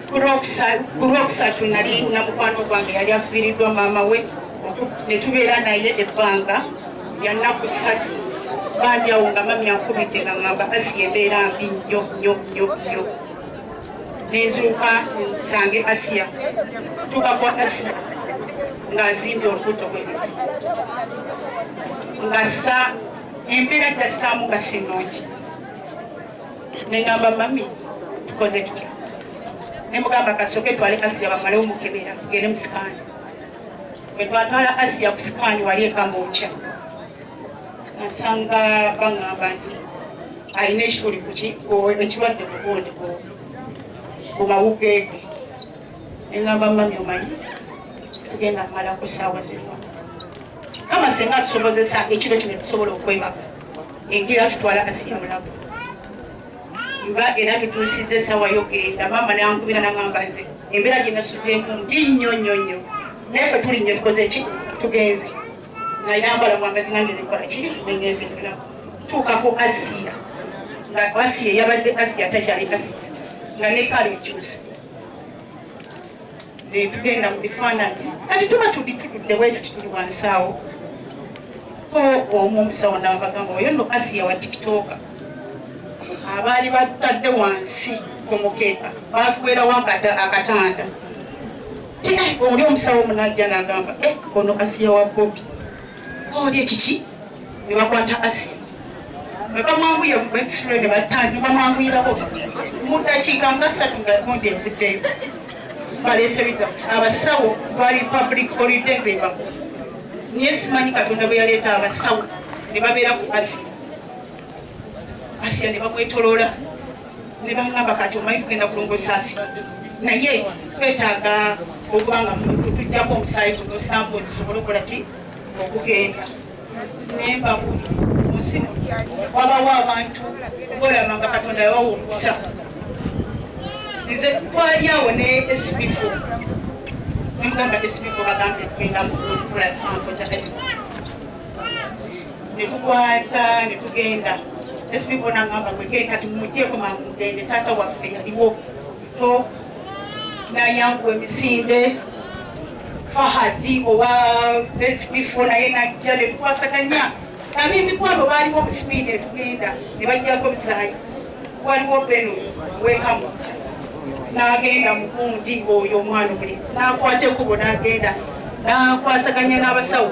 ku lwokusatu nali na mukwano gwange yali afiiriddwa maama we ne tubeera naye ebbanga yannaku satu banjawo nga mami ankubidde nga ngamba asi embeera mbi nnyo nnyo nnyo nnyo nenzuuka nsange asiya tuka kwa asiya ng'azimbye olubuto bwe luti nga sa embeera gyassaamu nga si nnungi nengamba mami tukoze tutya nemugamba kasoke twale asiya bamalewo mukebera tugende musikaani wetwatwala asiya ku sikaani wali ekamokya nasanga bangamba nti alina ekikuli kuki ekirwadde kugundi ku mawugeege nengamba mami omanyi tugenda mala ku saawa zino kama senga tusobozesa ekiro kino tusobola okwebaka enjira tutwala kasiya mulago mba era tutuusizza essaawa yogenda maama nankubira nangamba nze embeera gye nasuzeemu mbi nnyo nnyo nnyo naye fe tuli nnyo tukoze ki tugenze nayambala bwambazi nange nekola ki nengendekera tuukako asiya nga asiya yabadde asiya takyali asiya nga nekala ekyusa netugenda mu bifaananyi kati tuba tuli tutudde wetuti tuli wansi awo ko omu omusawo nabagamba oyo no asiya wa tiktoka abaali batutadde wansi ku mukeeka batuweerawo akatanda ti oli omusawo omunajja nagamba eh, ono asiya wa bobi Oli ekiki ne bakwata Asia ne bamwanguyira mu x-ray ne batandika ne bamwanguyirako mu ddakiika nga ssatu nga gundi evuddeyo baleese results abasawo bali public holiday nze baku naye simanyi katonda bwe yaleeta abasawo ne babeera ku Asia Asia ne bamwetoloola ne bamugamba kati omanyi tugenda kulongo esaasi naye twetaaga okuba nga tujjako omusaayi guno sampo zisobole okukola ki okugenda nembabuli munsi wabawo abantu okolaba nga katonda yawawo omukisa nze twali awo ne sbfo nemugamba sbfo bagambye tugenda mukola sampo za netukwata netugenda esipipo nangamba gwege kati mumujeko mangu mugende taata waffe yaliwo so nayanguwa emisinde fahadi owa esipipo naye najja netukwasaganya nami emikwano baliwo musipidi etugenda nebajjako omusayi waliwo beno wekamu nagenda mukundi oyo omwana omulenzi nakwata ekubo nagenda nakwasaganya n'abasawo